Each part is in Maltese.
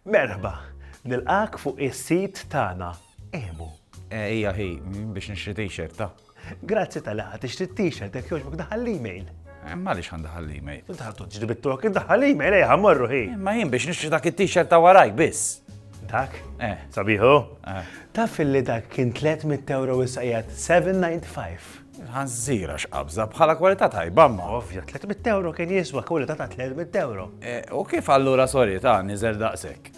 Merħba! Nilqgħek fuq is-sit tagħna Emu. Hija hi, biex nixtri t-shirt, ta. Grazzi tal-li ħadt tixtri t-shirt, jekk jogħġbok daħal l-email. Eh, ma li xan daħal l-email. Daħal tuġri bit-tok, daħal l-email, eħa, eh, morru hi. Eh, ma jien biex nixtri dak il-t-shirt ta' warajk biss. Dak? Eh. Sabiħu? Taf li dak kien 300 euro issa 795. Ħanżira x'qabża, bħala kwalità tajba imma. Ovvja, tliet mitt ewro kien jiswa kwalità ta' tliet mitt ewro. U kif allura sorry ta' niżel daqshekk?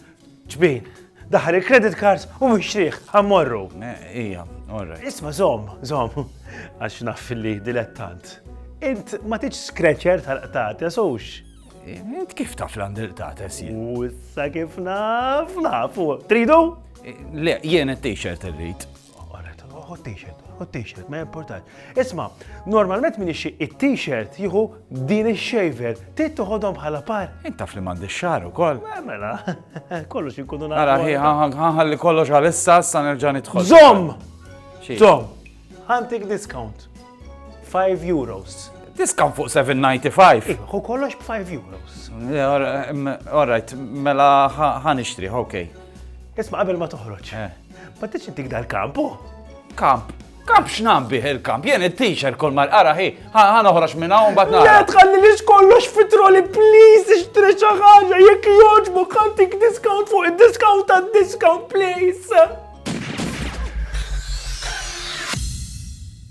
Ġbin, daħħal il-credit cards u mixtrih, ħa mmorru. Ija, all right. Isma' żomm, żomm, għax naf li dilettant. Int ma tridx scratcher tal-qtates hux? Int kif taf li għandi l-qtates jien? U issa kif naf, nafu. Tridu? Le, jien it-t-shirt irrid. Hu t-t-shirt, hu t-t-shirt, ma jimportax. Isma, normalment min ixi it-t-shirt jieħu din ix-shaver, trid toħodhom bħala par. Intaf li m'għandi xar ukoll. Eh, mela, kollox inkunu nagħmlu. Ara ħi ħanħalli kollox għal issa sa nerġa' nidħol. Zom! Zom! Ħantik discount. 5 euros. Discount fuq 7.95. Eh, hu kollox b'5 euros. Eh, all right, mela ħan ixtrih, okay. Isma' qabel ma toħroġ. Ma tridx intik dal-kamp, oh! Kamp? Kamp x'nam bih il-kamp? Jien it-teacher kol mal qara hi, ħa noħroġ minn hawn bad nara. Le tħalli li kollox fitroli please ixtri xi ħaġa jekk jogħġbu ħantik discount fuq id-discount għad-discount please.